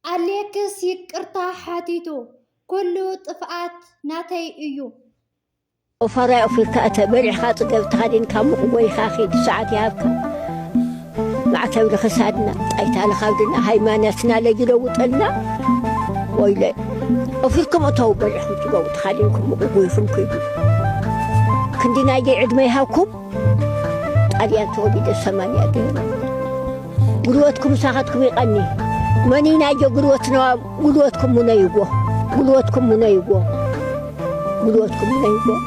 ኣሌክስ ይቅርታ ሓቲቱ ኩሉ ጥፍኣት ናተይ እዩ። ኦፋራይ ኦፊርካ እተ በሊዕካ ጽገብ ተኸዲንካ ሙቕ ጎይኻ ኪድ ሰዓት ይሃብካ ማዕተብ ንክሳድና ጣይታ ንኻብድና ሃይማኖትና ለጅ ለውጠልና ወይለ ኦፊርኩም እተው በሊዕኩም ጽገቡ ተኸዲንኩም ሙቕ ጎይኹም ኪዱ ክንዲ ናይገይ ዕድመ ይሃብኩም ጣልያን ተወሊደ ሰማንያ ገይሩ ጉልበትኩም ምሳኻትኩም ይቐኒ መኒናዮ ጉልበት ነዋ ጉልበትኩም ሙነይዎ ጉልበትኩም ሙነይዎ ጉልበትኩም ሙነይዎ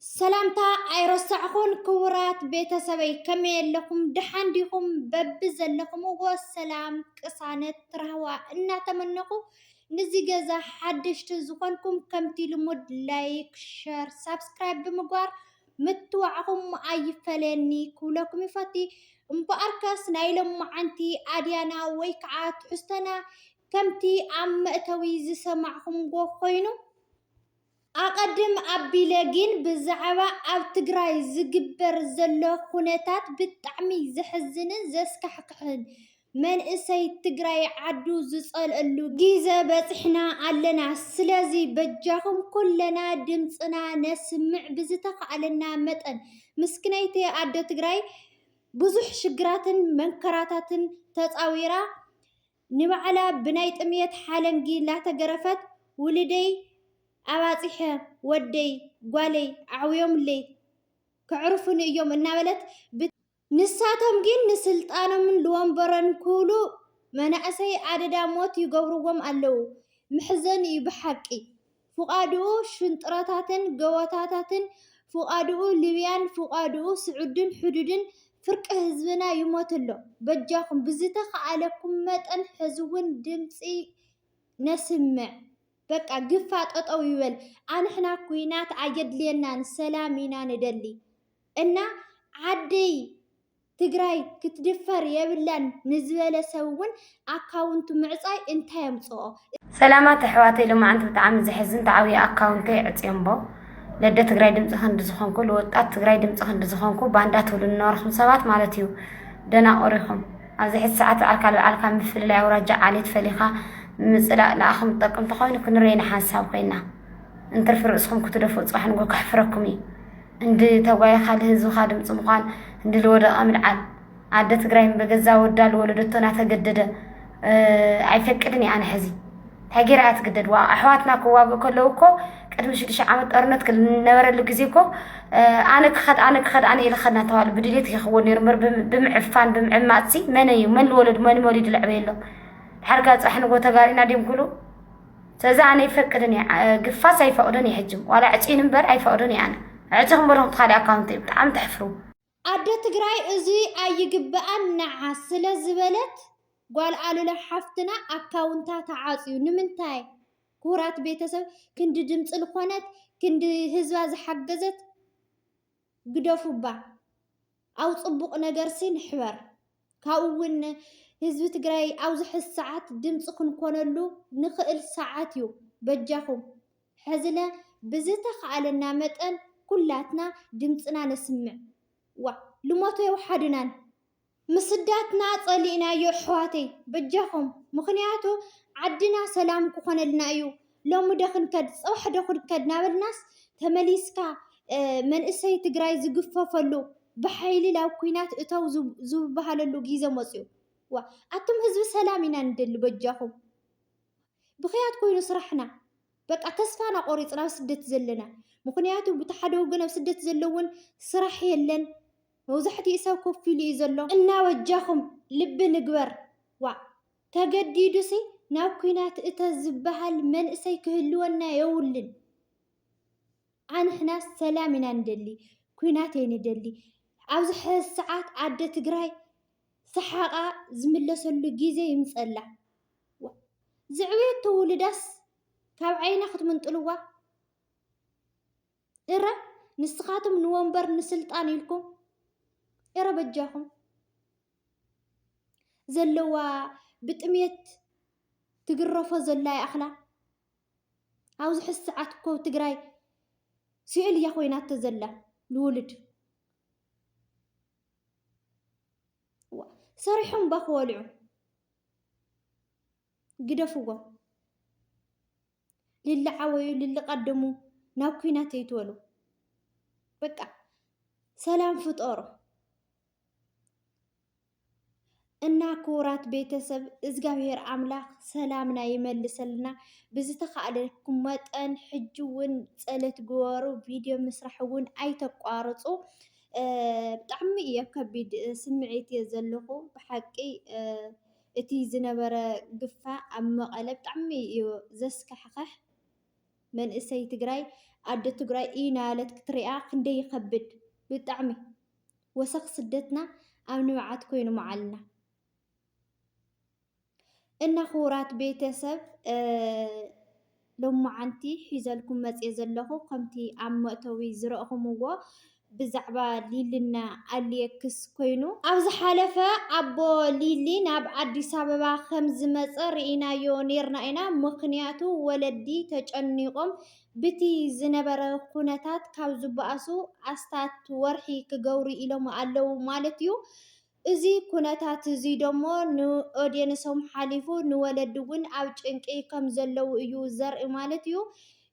ሰላምታ ኣይረሳዕኹን ክቡራት ቤተሰበይ ከመይ ኣለኹም ድሓን ዲኹም በቢ ዘለኹምዎ ሰላም ቅሳነት ትራህዋ እናተመነኹ ንዚ ገዛ ሓደሽቲ ዝኾንኩም ከምቲ ልሙድ ላይክ ሸር ሳብስክራይብ ብምግባር ምትዋዕኹም ኣይፈለየኒ ክብለኩም ይፈቲ እምበኣርከስ ናይ ሎምዓንቲ ኣድያና ወይ ከዓ ትሕዝቶና ከምቲ ኣብ መእተዊ ዝሰማዕኹምዎ ኮይኑ ኣቐድም ኣቢለ ግን ብዛዕባ ኣብ ትግራይ ዝግበር ዘሎ ኩነታት ብጣዕሚ ዘሕዝንን ዘስካሕክሕን መንእሰይ ትግራይ ዓዱ ዝፀልኣሉ ጊዘ በፅሕና ኣለና ስለዚ በጃኩም ኩለና ድምፅና ነስምዕ ብዝተካኣለና መጠን ምስክነይቲ ኣዶ ትግራይ ብዙሕ ሽግራትን መንከራታትን ተፃዊራ ንባዕላ ብናይ ጥምየት ሓለንጊ ላተገረፈት ውልደይ ኣባፂሐ ወደይ ጓለይ ኣዕውዮምለይ ከዕርፉኒ እዮም እናበለት ንሳቶም ግን ንስልጣኖምን ልወንበሮን ክብሉ መናእሰይ ኣደዳ ሞት ይገብርዎም ኣለዉ መሕዘኒ እዩ ብሓቂ ፍቃድኡ ሽንጥሮታትን ገወታታትን ፍቃድኡ ልብያን ፍቃድኡ ስዑድን ሕዱድን ፍርቂ ህዝብና ይሞት ኣሎ በጃኩም ብዝተካኣለኩም መጠን ሕዝውን ድምፂ ነስምዕ በቃ ግፋ ጠጠው ይበል ኣንሕና ኩናት ኣየድልየናን ሰላም ኢና ንደሊ። እና ዓደይ ትግራይ ክትድፈር የብላን ንዝበለ ሰብ እውን ኣካውንቱ ምዕፃይ እንታይ ኣምፀኦ? ሰላማት ኣሕዋተይ ሎማዓንቲ ብጣዓሚ ዘሕዝን ታዓብየ ኣካውንተይ ኣዕፅዮምቦ ለደ ትግራይ ድምፂ ክንዲ ዝኮንኩ ልወጣት ትግራይ ድምፂ ክንዲ ዝኮንኩ ባንዳ ትብሉ ንነበርኩም ሰባት ማለት እዩ ደናቁር ኢኩም ኣብዚ ሕዚ ሳዓት ባዓልካ ልባዓልካ ምፍልላይ ኣውራጃ ዓሌት ፈሊካ ምፅላእ ናኣኩም ዝጠቅም ተኮይኑ ክንርየይ ንሓንሳብ ኮይና እንትርፊ ርእስኩም ክትደፍኡ ፅባሕ ንግሆ ከሕፍረኩም እዩ እንድ ተጓይኻ ልህዝብኻ ድምፂ ምዃን እንድ ልወደቐ ምልዓል ኣደ ትግራይ በገዛ ወዳ ልወለደቶ ናተገደደ ኣይፈቅድን እየ ኣነ ሕዚ እንታይ ገይራ እያ ትግደድ ዋ ኣሕዋትና ክዋግኡ ከለዉ እኮ ቅድሚ ሽዱሽተ ዓመት ጦርነት ክነበረሉ ግዜ እኮ ኣነ ክኸድ ኣነ ክኸድ ኣነ ኢለ ኸድና ተባሉ ብድሌት ይኸወል ነይሩ እምበር ብምዕፋን ብምዕማፅ ሲ መን እዩ መን ልወለዱ መን መሊዱ ለዕበየሎም ድሓር ጋር ፅራሕ ንጎ ተጋሪና ድዮም ክብሉ ሰዚ ኣነ ይፈቅድን እየ ግፋስ ኣይፈቅዶን እየ ሕጂ ዋላ ዕፅዩን እምበር ኣይፈቅዶን እየ ኣነ ዕፅኹም በልኹም ትካሊ ኣካውንቲ እዩ ብጣዕሚ ተሕፍሩ ኣደ ትግራይ እዚ ኣይግበኣን ንዓ ስለ ዝበለት ጓል ኣሉላ ሓፍትና ኣካውንታ ተዓፅዩ ንምንታይ ክቡራት ቤተሰብ ክንዲ ድምፂ ልኾነት ክንዲ ህዝባ ዝሓገዘት ግደፉባ ኣብ ፅቡቅ ነገርሲ ንሕበር ካብኡ እውን ህዝቢ ትግራይ ኣብዚ ሕዚ ሰዓት ድምፂ ክንኮነሉ ንክእል ሰዓት እዩ በጃኩም ሕዝለ ብዝተካኣለና መጠን ኩላትና ድምፅና ነስምዕ ዋእ ልሞቶ የውሓድናን። ምስዳትና ጸሊእናዮ ኣሕዋተይ በጃኹም ምኽንያቱ ዓድና ሰላም ክኾነልና እዩ ሎሚ ዶ ክንከድ ጽባሕ ዶ ክንከድ ናበልናስ ተመሊስካ መንእሰይ ትግራይ ዝግፈፈሉ ብሓይሊ ናብ ኩናት እተው ዝብሃለሉ ግዜ መጽዩ ዋ ኣቱም ህዝቢ ሰላም ኢና ንደሊ በጃኹም ብኽያት ኮይኑ ስራሕና በቃ ተስፋና ቆሪፅና ኣብ ስደት ዘለና ምኽንያቱ ብቲ ሓደ ወገን ኣብ ስደት ዘለውን ስራሕ የለን መብዛሕቲኡ ሰብ ኮፍ ኢሉ እዩ ዘሎ እና በጃኹም ልቢ ንግበር ዋእ ተገዲዱሲ ናብ ኩናት እተ ዝባሃል መንእሰይ ክህልወና የውልን ኣንሕናስ ሰላም ኢና ንደሊ ኩናት ኣይንደሊ ኣብዚ ሕዚ ሰዓት ኣደ ትግራይ ሰሓቓ ዝምለሰሉ ግዜ ይምፀላ ዝዕበየቶ ውሉዳስ ካብ ዓይና ክትምንጥልዋ እረ ንስኻትም ንወንበር ንስልጣን ኢልኩም እረ በጃኹም ዘለዋ ብጥሜት ትግረፎ ዘላ ይኣኽላ ኣብዚ ሕዚ ሰዓት እኮ ትግራይ ስእል እያ ኮይናቶ ዘላ ንውልድ ሰሪሖም እባ ክወልዑ ግደፍዎም ልልዓወዩ ልልቀደሙ ናብ ኩናት ኣይትበሉ በቃ ሰላም ፍጠሩ እና ክቡራት ቤተሰብ እግዚኣብሔር ኣምላክ ሰላምና ይመልሰልና ብዝተካእለኩም መጠን ሕጂ እውን ፀሎት ግበሩ ቪድዮ ምስራሕ እውን ኣይተቋርፁ ብጣዕሚ እየ ከቢድ ስምዒት እየ ዘለኹ ብሓቂ እቲ ዝነበረ ግፋ ኣብ መቀለ ብጣዕሚ እዩ ዘስካሕኽሕ መንእሰይ ትግራይ ኣደ ትግራይ ኢናለት ክትሪኣ ክንደይ ይከብድ ብጣዕሚ ወሰኽ ስደትና ኣብ ንብዓት ኮይኑ መዓልና እና ክቡራት ቤተሰብ ሎማዓንቲ ሒዘልኩም መጽየ ዘለኹ ከምቲ ኣብ መእተዊ ዝረእኹምዎ ብዛዕባ ሊልና ኣልየክስ ኮይኑ፣ ኣብ ዝሓለፈ ኣቦ ሊሊ ናብ ኣዲስ ኣበባ ከም ዝመጸ ርኢናዮ ኔርና ኢና ምኽንያቱ ወለዲ ተጨኒቖም ብቲ ዝነበረ ኩነታት ካብ ዝበኣሱ ኣስታት ወርሒ ክገብሩ ኢሎም ኣለዉ ማለት'ዩ እዚ ኩነታት'ዚ ደሞ ንኦድየንሶም ሓሊፉ ንወለዲ'ውን ኣብ ጭንቂ ከም ዘለዉ እዩ ዘርኢ ማለት እዩ።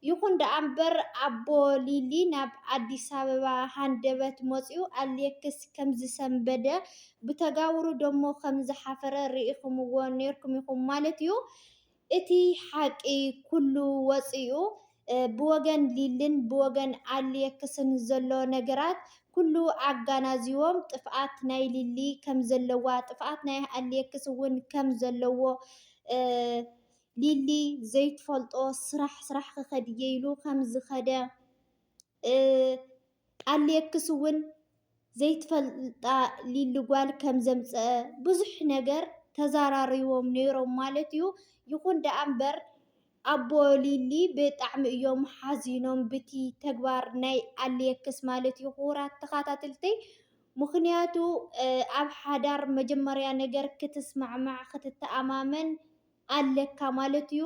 ይኹን ደኣ'ምበር ኣቦ ሊሊ ናብ ኣዲስ ኣበባ ሃንደበት መጺኡ ኣሌክስ ከም ዝሰንበደ፣ ብተጋብሩ ደሞ ከም ዝሓፈረ ርኢኹምዎ ኔርኩም ኢኹም ማለት እዩ። እቲ ሓቂ ኩሉ ወጺኡ ብወገን ሊልን ብወገን ኣሌክስን ዘሎ ነገራት ኩሉ ኣጋናዚዎም ጥፍኣት ናይ ሊሊ ከም ዘለዋ ጥፍኣት ናይ ኣሌክስ ውን ከም ዘለዎ ሊሊ ዘይትፈልጦ ስራሕ ስራሕ ክከድ እየ ኢሉ ከም ዝከደ ቃሌክስ እውን ዘይትፈልጣ ሊሊ ጓል ከም ዘምፀኣ ብዙሕ ነገር ተዘራሪቦም ነይሮም ማለት እዩ። ይኹን ደኣ እምበር ኣቦ ሊሊ ብጣዕሚ እዮም ሓዚኖም ብቲ ተግባር ናይ ኣሌክስ ማለት እዩ ክቡራት ተኸታተልተይ ምኽንያቱ ኣብ ሓዳር መጀመርያ ነገር ክትስማዕማዕ ክትተኣማመን ኣለካ ማለት እዩ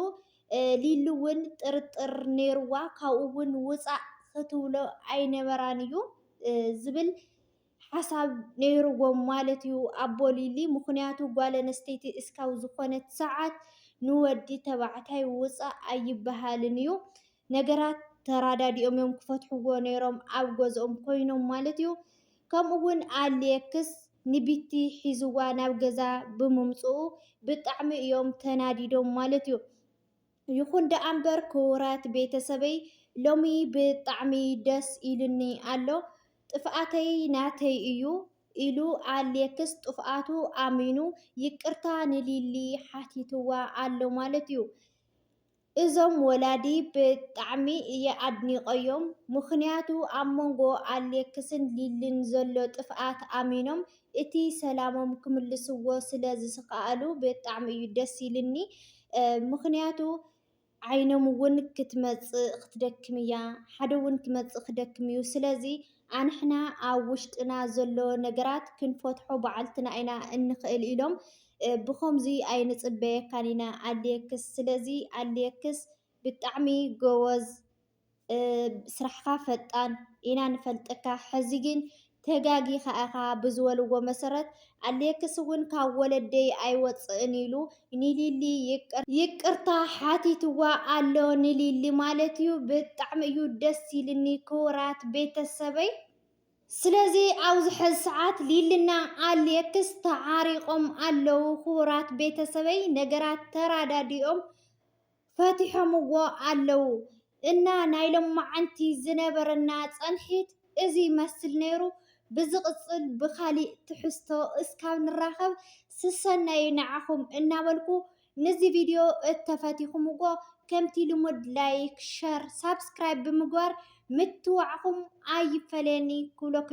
ሊሊ ውን ጥርጥር ነይርዋ ካብኡ ውን ውፃእ ክትብሎ ኣይነበራን እዩ ዝብል ሓሳብ ነይርዎም ማለት እዩ ኣቦ ሊሊ ምኽንያቱ ጓል ኣነስተይቲ እስካብ ዝኾነት ሰዓት ንወዲ ተባዕታይ ውፃእ ኣይበሃልን እዩ ነገራት ተራዳዲኦም እዮም ክፈትሕዎ ነይሮም ኣብ ገዝኦም ኮይኖም ማለት እዩ። ከምኡ እውን ኣሌክስ ንቢቲ ሒዝዋ ናብ ገዛ ብምምፅኡ ብጣዕሚ እዮም ተናዲዶም ማለት እዩ። ይኹን ደኣ እምበር ክቡራት ቤተሰበይ ሎሚ ብጣዕሚ ደስ ኢሉኒ ኣሎ ጥፍኣተይ ናተይ እዩ ኢሉ ኣሌክስ ጥፍኣቱ ኣሚኑ ይቅርታ ንሊሊ ሓቲትዋ ኣሎ ማለት እዩ። እዞም ወላዲ ብጣዕሚ እየ ኣድኒቀዮም ምኽንያቱ ኣብ መንጎ ኣሌክስን ሊሊን ዘሎ ጥፍኣት ኣሚኖም እቲ ሰላሞም ክምልስዎ ስለ ዝስከኣሉ ብጣዕሚ እዩ ደስ ኢልኒ ምኽንያቱ ዓይኖም ውን ክትመጽእ ክትደክም እያ ሓደ ውን ክመጽእ ክደክም እዩ ስለዚ ኣንሕና ኣብ ውሽጥና ዘሎ ነገራት ክንፈትሖ ባዕልትና ኢና እንኽእል ኢሎም ብከምዙይ ኣይንፅበየካን ኢና ኣልየክስ ስለዚ ኣልየክስ ብጣዕሚ ጎበዝ ስራሕካ ፈጣን ኢና ንፈልጠካ ሕዚ ግን ተጋጊኻ ኢኻ ብዝበልዎ መሰረት ኣልየክስ እውን ካብ ወለደይ ኣይወፅእን ኢሉ ንሊሊ ይቅርታ ሓቲትዋ ኣሎ ንሊሊ ማለት እዩ ብጣዕሚ እዩ ደስ ኢልኒ ክቡራት ቤተሰበይ። ስለዚ ኣብዚ ሕዚ ሰዓት ሊልና ኣሌክስ ተዓሪቆም ኣለው ክቡራት ቤተሰበይ ነገራት ተራዳዲኦም ፈቲሖምዎ ኣለው እና ናይ ሎማዓንቲ ዝነበረና ፀንሒት እዚ ይመስል ነይሩ ብዝቅፅል ብካሊእ ትሕዝቶ እስካብ ንራከብ ስሰናዩ ናዓኩም እናበልኩ ንዚ ቪድዮ እተፈቲኹምዎ ከምቲ ልሙድ ላይክ ሸር ሳብስክራይብ ብምግባር ምትብባዕኹም ኣይፈለየኒ ክብለኩም።